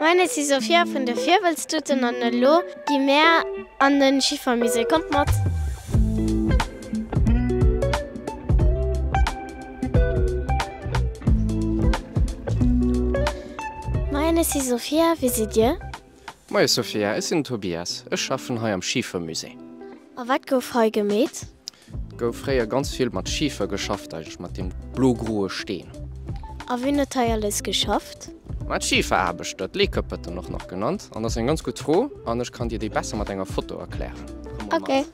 Meine si Sophia vun de Virwëlztuten an elo gi mär an de Schiffermusée. Kommt mat! Meine si Sophia, wie sidd Dir? Moie Sophia, ech sinn den Tobias, ech schaffen hei am Schiefermusée. A wat gouf hei gemeet? Et gouf fréier ganz vill mat Schifer geschafft, eigentlech mat deem blo-groe Steen. A wien huet hei alles geschafft? Ma d'Schiferaarbechter, d'Leekëppeten och nach genannt. An dat ass eng ganz gutt Fro an ech kann dir déi besser mat enger Foto erklären. Komm mol mat. Ok.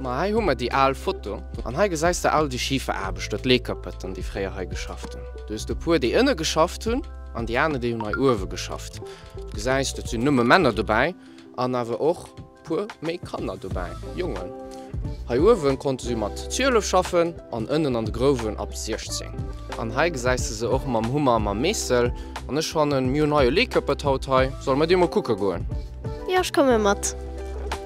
Ma hei hu mer déi al Foto. An hei gesäis de all déi Schiferaarbechter, d'Leekëppeten, déi fréier hei geschafft hunn. Do hues de e puer, déi ënne geschafft hunn an déi aner, déi hunn hei uewe geschafft. Gesäis et sinn nëmme Männer dobäi an awer och puer méi Kanner dobäi, Jongen. Hei uewen konnte se mat 12 schaffen an ënnen an de Grouwen ab 16. An hei gesäis de se och mam Hummer a mam Meessel. An ech fannen mir hunn hei e Leekëppert haut hei. Solle mer dee mol kucke goen? Jo, ech komme mat.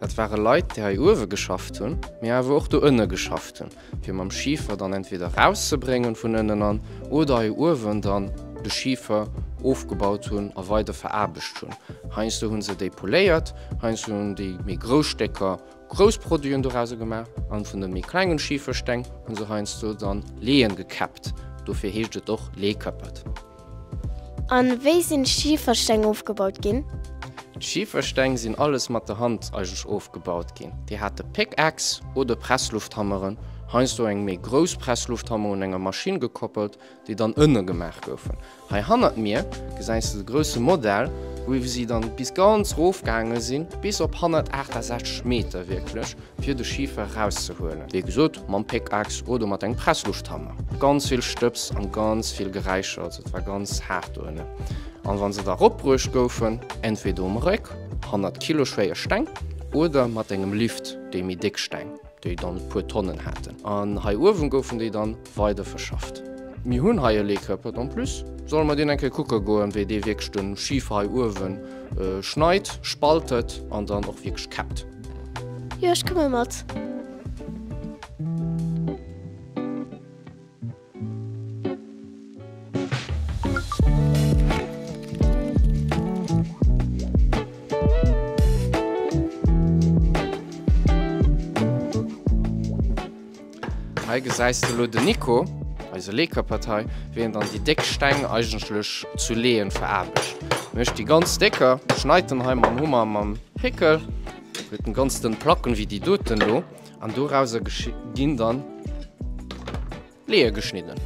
Dat ware Leit, déi hei uewe geschafft hunn, mee awer och do ënne geschafft hunn, fir mam Schifer dann entweder erauszebréngen vun ënnen an oder hei uewen dann de Schifer ofgebaut hunn a weider veraarbecht hunn. Heiansdo hu se déi poléiert, heiansdo hunn déi méi grouss Stécker grouss Produiten dorauser gemaach an vun de méi klengen Schifersteng hu se heiansdo dann Leeën gekäppt. Dofir heescht et och Leeëkäppert. A wéi sinn d'Schifersteng ofgebaut ginn? D'Schifersteng sinn alles mat der Hand eigentlech ofgebaut ginn. Déi hate Pickaxe oder Presslufthammeren, heiansdo eng méi grouss Presslufthammer un enger Maschinn gekoppelt, déi dann ënne gemaach goufen. Hei hannert mir gesäis de de grousse Modell, wou si dann bis ganz rof gaange sinn, bis op 168 Meter wierklech. fir de Schifer erauszehuelen, wéi gesot mam Pickaxe oder mat engem Pressluuchthammer. Ganz vill Stëbs an ganz vill Geräischer, also et war ganz haart do ënnen. An wann se da eropbruecht goufen, entweder um Réck, hannert Kilo schwéier Steng, oder mat engem Lift, déi méi déck Steng, déi dann e puer Tonnen haten, an hei uewen goufen déi dann weider verschafft. Mir hunn hei e Leekörpert en plus, solle mer deen eng Kéier kucke goen, wéi dee wierklech de Schiefer hei uewe schneit, spaltet an dann och wierklech käppt. Jo, ech komme mat. Hei gesäis de lo den Nico, eise Leekerpartei, wéi en dann déi déck Steng eigentlech zu Leeën veraarbecht. En mécht déi ganz décker, schneit en hei mam Hummer, mam Péckel, huet en ganz dënn Placken, wéi déi doten do, an dorauser ginn dann Leeë geschnidden.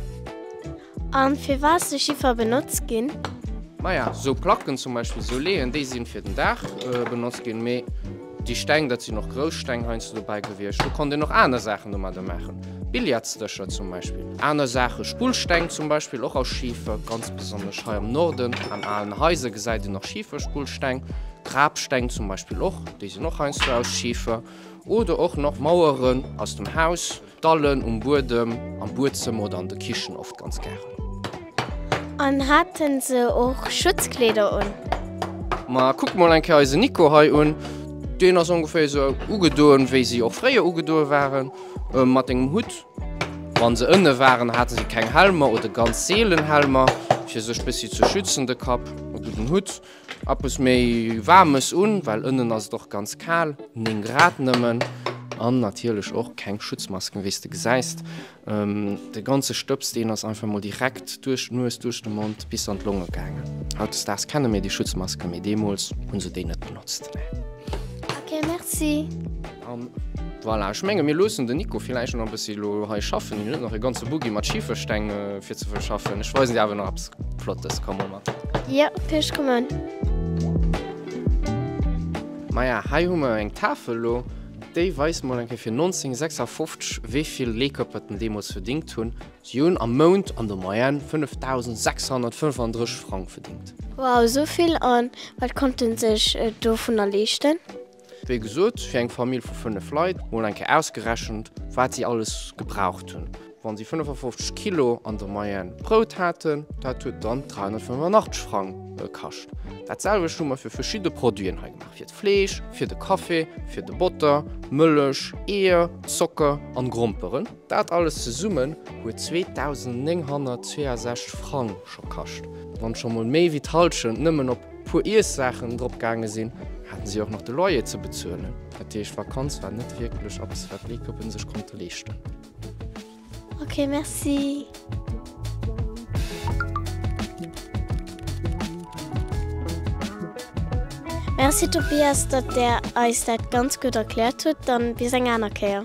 An firwat sou Schiffer benotzt ginn? Maja, sou Placken zum Beispill, sou Leeën, déi sinn fir den Daach benotzt ginn, mee déi Steng, dat sinn och grouss Steng heiansdo dobäi gewiescht. Do konnt een och aner Saachen domadder maachen, Billardsdëscher zum Beispill, aner Saachen, Spullsteng zum Beispill, och aus Schifer, ganz besonnesch hei am Norden, an alen Haiser gesäit een nach Schiferspullsteng, Grabsteng zum Beispill och, déi sinn och heiansdo aus Schifer, oder och nach Maueren aus dem Haus. D'Dallen um Buedem, am Buedzëmmer oder an der Kichen oft ganz gären. An haten se och Schutzkleeder un? Ma kuck mol eng Kéier eisen Nico hei un. Deen ass ongeféier esou ugedoen, wéi si och fréier ugedoen waren, mat engem Hutt. Wann se ënne waren, haten si keng Helmer oder ganz seelen Helmer, fir sech bessi ze schützen, de Kapp, e gudden Hutt. Eppes méi waarmes un, well ënnen ass et och ganz kal, 9 Grad nëmmen an natierlech och keng Schutzmasken, wéi s de gesäis. De ganze Stëbs, deen ass einfach mol direkt duerch d'Nues, duerch de Mond bis an d'Longe gaangen. Hautdesdaags kenne mir déi Schutzmasken, mee deemools hu se déi net benotzt, nee. Ok, merci. An voilà, ech menge mir loossen den Nico villäicht nach e bëssi elo hei schaffen. Hien huet nach e ganze Buggi mat Schifersteng fir ze verschaffen. Ech weisen dir awer nach eppes Flottes. Komm, mol mat. Jo, Fisch kommen. Maja, hei hu mer eng Tafel elo, déi weist mol eng Kéier fir 1956, wéi vill Leekëpper et en deemools verdingt hunn. Si hunn am Mount an der Moyenne 5.635 Frang verdingt. Wow, esou vill! An wat konnte sech et dovunner leeschten? Wéi gesot, fir eng Famill vu 5 Leit, mol eng Kéier ausgerechent, wat si alles gebraucht hunn, wa si 55 Kilo an der Moyenne Brout haten, dat huet dann 385 Frang kascht. Dat selwecht hu mer fir verschidde Produiten hei gemaach, fir d'Fleesch, fir de Café, fir de Botter, Mëllech, Eeër, Zocker an Gromperen. Dat alles zesummen huet 2.962 Frang scho kascht. Wann scho mol méi wéi d'Hallschent nëmmen op puer Iessaachen drop gaange sinn, haten si och nach de Loyer ze bezuelen. Dat heescht, Vakanz war net wierklech eppes wat d'Leekeppen sech konnte leeschten. Ok merci. Merci Tobias, datt der eis dat ganz gutt erkläert hutt. Dann bis eng aner Kéier.